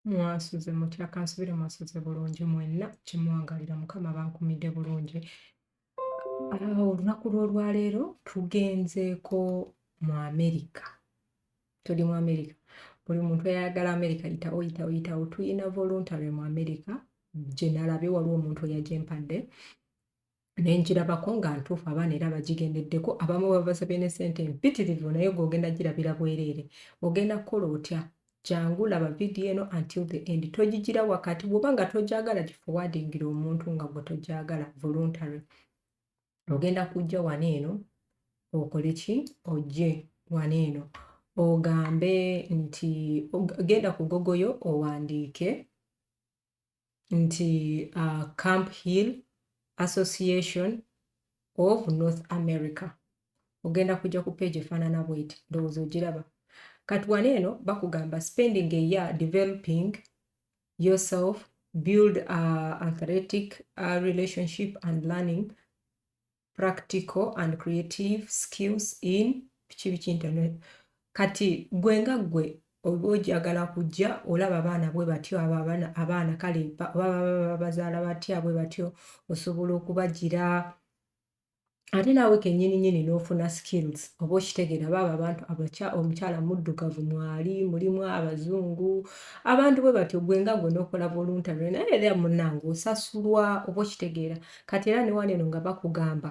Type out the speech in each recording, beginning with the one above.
mwasuze mutya kansubire mwasuze bulungi mwenna kimwangalira mukama bankumidde bulungi ah, olunaku lw'olwaleero tugenzeeko mu amerika tuli mu america buli muntu ayagala america yitawo yitawo yitawo tuyina voluntary mu america gyenalabe waliwo omuntu eyajempadde nenjirabako nga ntuufu abaana era bagigendeddeko abamu babasabye ne sente mpitirivu naye gweogenda girabira bwereere ogenda kukola otya jangu laba vidiyo eno until the end togigira wakati bwoba nga togyagala gifowadingira omuntu nga gwe togyagala voluntary ogenda kujja wano eno okole ki ojje wano eno ogambe nti genda ku gogoyo owandiike nti uh, camp hill association of north america ogenda kujja ku page efaanana bweti ndowooza ogiraba kati wano eno bakugamba spending a year developing yourself build a athletic a relationship and learning practical and creative skills in biki biki internet kati gwe nga gwe oba ojagala kujja olaba abaana bwe batyo abo abaana kale bazaala batya bwe batyo osobola okubagira ate naawe kenyini nyini n'ofuna skills oba okitegeera baaba abantu abakya omukyala muddugavu mwali mulimu abazungu abantu bwe batyo gwe nga gwe n'okola voluntary naye era munange osasulwa oba okitegeera kati era ne wano eno nga bakugamba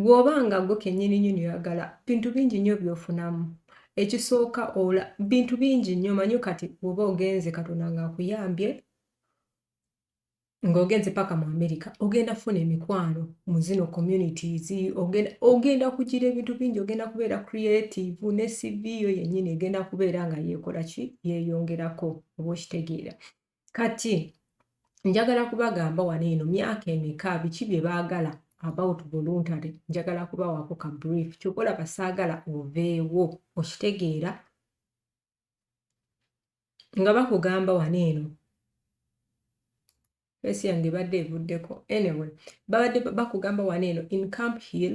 Bw'oba nga gwe kennyini nyini oyagala bintu bingi nnyo by'ofunamu. Ekisooka ola bintu bingi nnyo manyo kati bw'oba ogenze Katonda ng'akuyambye ng'ogenze paka mu Amerika ogenda kufuna emikwano mu zino communities ogenda kugira ebintu bingi ogenda kubeera creative ne CV yo yennyini egenda kubeera nga yeekola ki yeeyongerako oba okitegeera. kati njagala kubagamba wano eno myaka emeka biki bye baagala about voluntary njagala kubawaako ka brief kyokola basaagala oveewo okitegeera nga bakugamba wano eno fesi yange ebadde evuddeko anyway babadde bakugamba wano eno in camp hill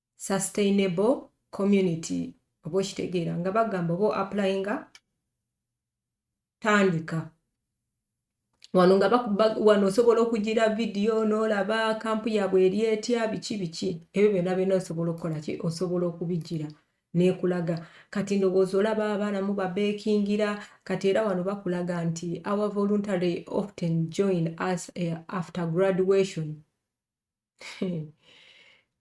sustainable community oba okitegeera nga bagamba oba applyinga tandika wano nga wano osobola okugira vidiyo n'olaba kampu yaabwe eri etya biki biki ebyo byonna byonna osobola okukola ki osobola okubigira nekulaga kati ndowooza olaba abaana mu babekingira kati era wano bakulaga nti our voluntary often join us eh, after graduation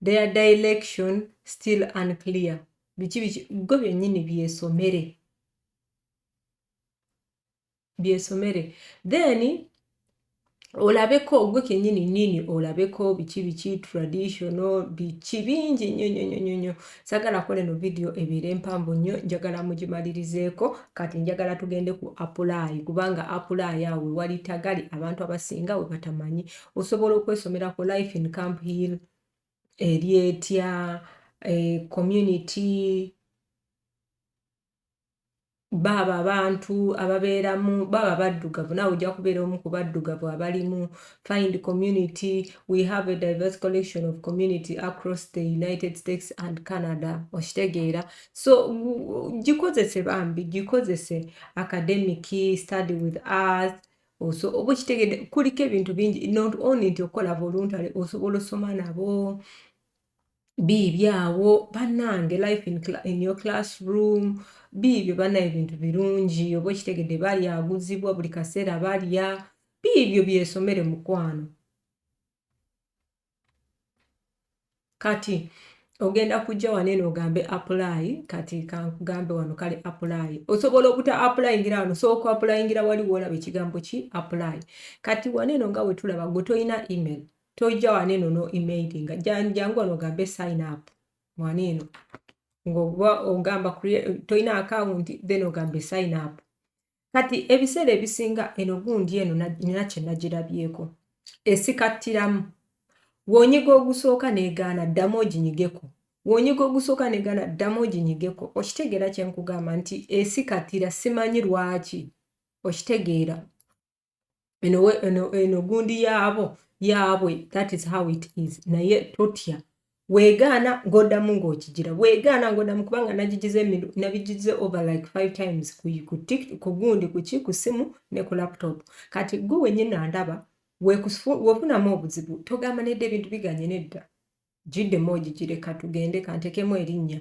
their direction still unclear biki biki gwe byennyini byesomere byesomere then olabeko gwe kenyini nini olabeko biki biki traditional biki bingi nyo nyo nyo nyo sagala kola eno video ebeere empanvu nnyo njagala mugimalirizeeko kati njagala tugende ku apulaayi kubanga apulaayi awo wewali tagali abantu abasinga we batamanyi osobola okwesomera ku life in camp hill eri etya eh, community baabo abantu ababeeramu baabo abaddugavu naawe ojja kubeera omu ku baddugavu abalimu find community we have a diverse collection of community across the united states and canada okitegeera so gikozese bambi gikozese academic study with us oba okitegedde kuliko ebintu bingi not only nti okukola voluntary osobola osoma nabo biibyo awo banange life in, in your classroom biibyo bana ebintu birungi oba okitegedde balya aguzibwa buli kaseera balya biibyo byesomere mukwano kati ogenda kujja wano eno ogambe apply kati kankugambe wano kale apply osobola obuta applyingira wano sooka applyingira wali woolaba ekigambo ki apply kati wano eno nga wetulaba gwe tolina email tojja wano eno no emailinga jangu wano ogambe sign up wano eno ngaoba ogamba tolina akawunti then ogambe sign up kati ebiseera ebisinga eno gundi eno nina kye nagirabyeko esikattiramu wonyiga ogusooka negaana ddamu oginyigeko wonyiga ogusooka negaana ddamu oginyigeko okitegeera kyenkugamba nti esikatira simanyi lwaki okitegeera eno gundi yaabo yaabwe that is how it is naye totya weegaana ng'oddamu ng'okigira weegaana ng'oddamu kubanga nagigize nabigize over like five times ku gundi kuki ku simu ne ku laptop kati gwe wenyini andaba wefunamu obuzibu togamba nedda ebintu biganye nedda giddemu ogigire katugende kanteekemu erinnya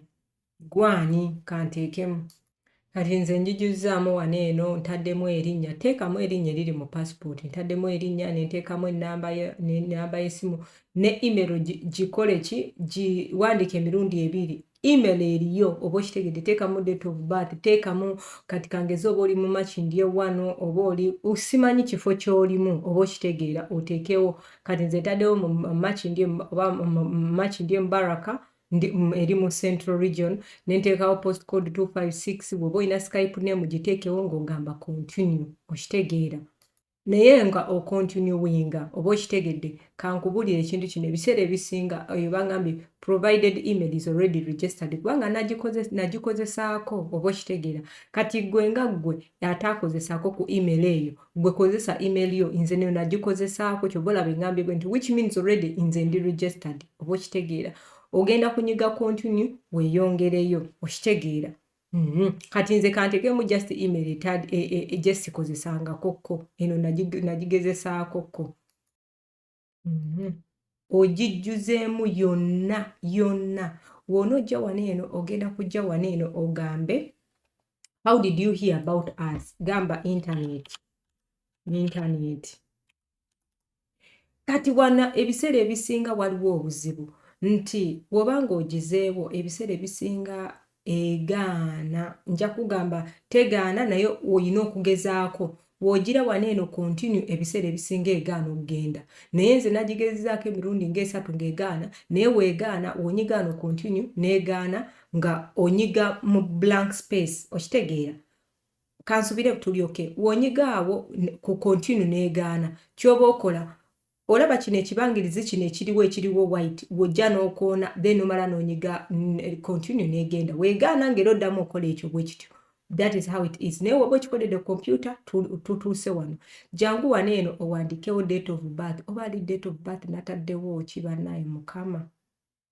gwani kanteekemu kati nze njijuzzaamu wano eno ntaddemu erinnya teekamu erinnya eriri mu pasipooti ntaddemu erinnya nenteekamu enamba y'essimu ne email gikole ki giwandiika emirundi ebiri Email eriyo oba okitegedde teekamu date of birth teekamu kati kangeze oba oli mumakindi ewano oba oli simanyi kifo kyolimu oba okitegeera oteekewo kati nze ntaddewo mumakindi oba mumakindi embaraka eri mu central region nenteekawo post code 256 bwoba olina skype name giteekewo ng'ogamba continue okitegeera Naye nga o continuinga oba okitegedde, kankubulire ekintu kino ebiseera ebisinga eyo bangambye provided email is already registered kubanga nagikozesaako oba okitegeera kati gwe nga gwe ataakozesaako ku email eyo gwe kozesa email yo nze neyo nagikozesaako kyoba olaba engambye gwe nti which means already nze ndi registered oba okitegeera ogenda kunyiga continue weyongereyo okitegeera Mhm. Kati nze kantegeemu just email etad e, e, e, gye sikozesangakokko eno nagigezesaakokko mhm. ogijjuzeemu yonna yonna wona ojja wano eno ogenda kujja wano eno ogambe how did you hear about us gamba internet internet kati wana ebiseera ebisinga waliwo obuzibu nti bwoba nga ogizeewo ebiseera ebisinga egaana nja kugamba tegaana naye olina okugezaako wogira wana eno continue ebiseera ebisinga egaana okugenda naye nze nagigezezaako emirundi ngaesatu ngaegaana naye wegaana wonyigaano continue negaana nga onyiga mu blank space okitegeera kansubire tulyoke wonyiga awo ku continue negaana kyoba okola olaba kino ekibangirizi kino ekiriwo ekiriwo white wojja nokoona then omala nonyiga continue negenda wegaana ngera oddamu okola ekyo bwekityo that is how it is naye woba okikodede kompyuta tutuuse wano jangu wano eno owandikewo date of birth oba ali date of birth nataddewo kibanaye mukama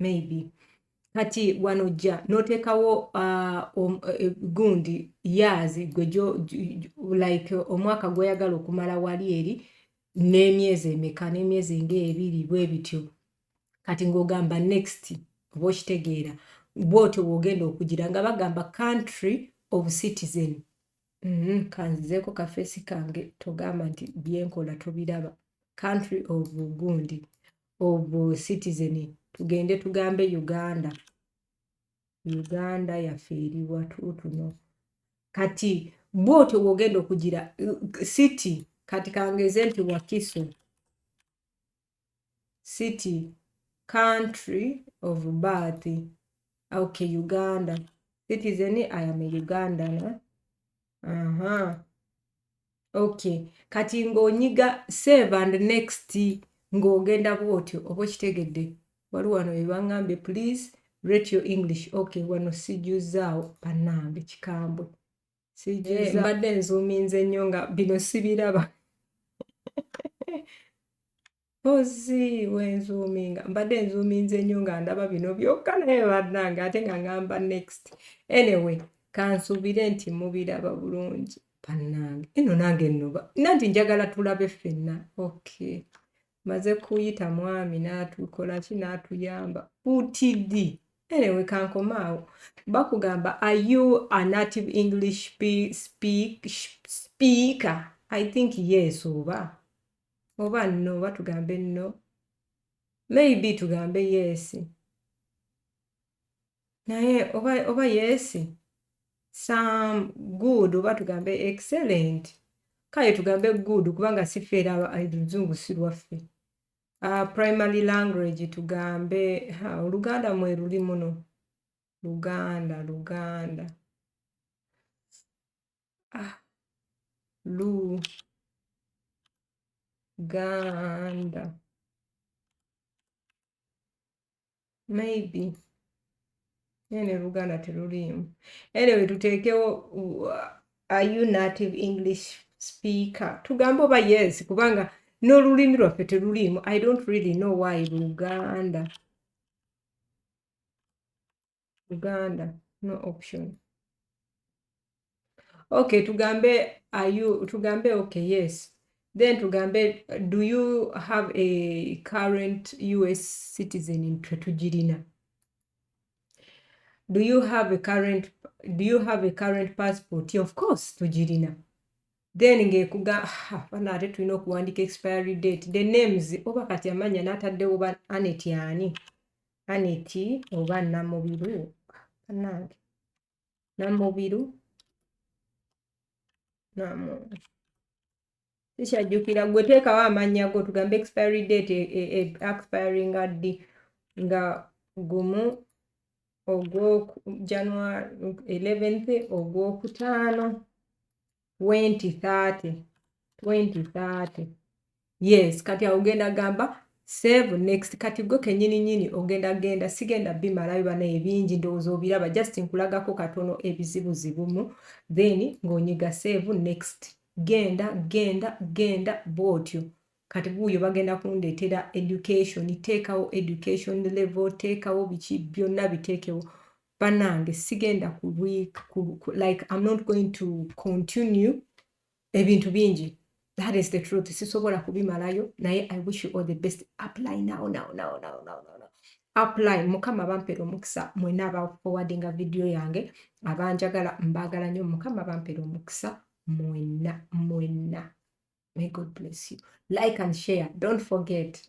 maybe kati wano jja n'oteekawo uh, eh, gundi yaazi gwe like omwaka gw'oyagala okumala wali eri n'emyezi emeka n'emyezi ng'ebiri bwe bityo kati ng'ogamba next oba okitegeera bwotyo bw'ogenda okugira nga bagamba country of citizen mm -hmm. kanzizeeko kafeesi kange togamba nti byenkola tobiraba country of gundi of citizen tugende tugambe uganda uganda yaffe eriwa tutuno kati bwotyo wogenda okugira city kati kangeze nti wakiso city country of birth okay uganda citizen i am a ugandan Aha. Okay. Kati ng'onyiga save and next ng'ogenda bw'otyo oba okitegedde wali wano webaŋŋambye please rate your english okay wano sijuzaawo bannange kikambwe eh, mbadde nzuuminze nnyo nga bino sibiraba Mpozzi wenzuuminga mbadde nzuuminze nnyo nga ndaba bino byokka naye bannange ate nga ngamba next anyway kansuubire nti mubiraba bulungi bannange eno nange noba nanti njagala tulabe ffenna okay maze kuyita mwami natukolaki natuyamba utd anyway kankomaawo bakugamba are you a native english speak, speaker i think yes oba oba no oba tugambe no maybe tugambe yeesi naye oba, oba yeesi some good oba tugambe excellent kale tugambe good kubanga sifeera oluzungu si lwaffe uh, primary language tugambe ha, oluganda mwe luli muno luganda luganda ah, lu ganda maybe naye ne luganda teruliimu anyway tuteekewo uh, are you native english speaker tugambe oba yes kubanga n'olulimi lwaffe teruliimu i don't really know why luganda uganda no option okay tugambe are you tugambe okay yes then tugambe do you have a current us citizen tetugirina do you have a current do you have a current passport of course tugirina then ngekuga bana ate tulina okuwandika expiry date the names oba kati amanya nataddewo ba anet ani aneti oba namubiru banange namubiru namu sikyajjukira gwe teekawo amannya go tugambe expiry date e, e, e, expiry nga ddi nga gumu ogwo january 11th ogwokutaano 2030 2030 yes kati awo ogenda gamba save next kati gwe kenyini nyini ogenda genda sigenda bimalayo bana ebingi ndowooza obiraba just nkulagako katono ebizibu zibumu then ng'onyiga save next genda genda genda bwotyo kati buuyo bagenda kundeetera education teekawo education level teekawo biki byonna biteekewo banange sigenda ku week ku, ku, like i'm not going to continue ebintu bingi that is the truth sisobola kubimalayo naye i wish you all the best apply now now now now now, now. apply mukama bampera omukisa mwena abafowadinga vidiyo yange abanjagala mbagala nnyo mukama bampera omukisa mwena mwena may god bless you like and share don't forget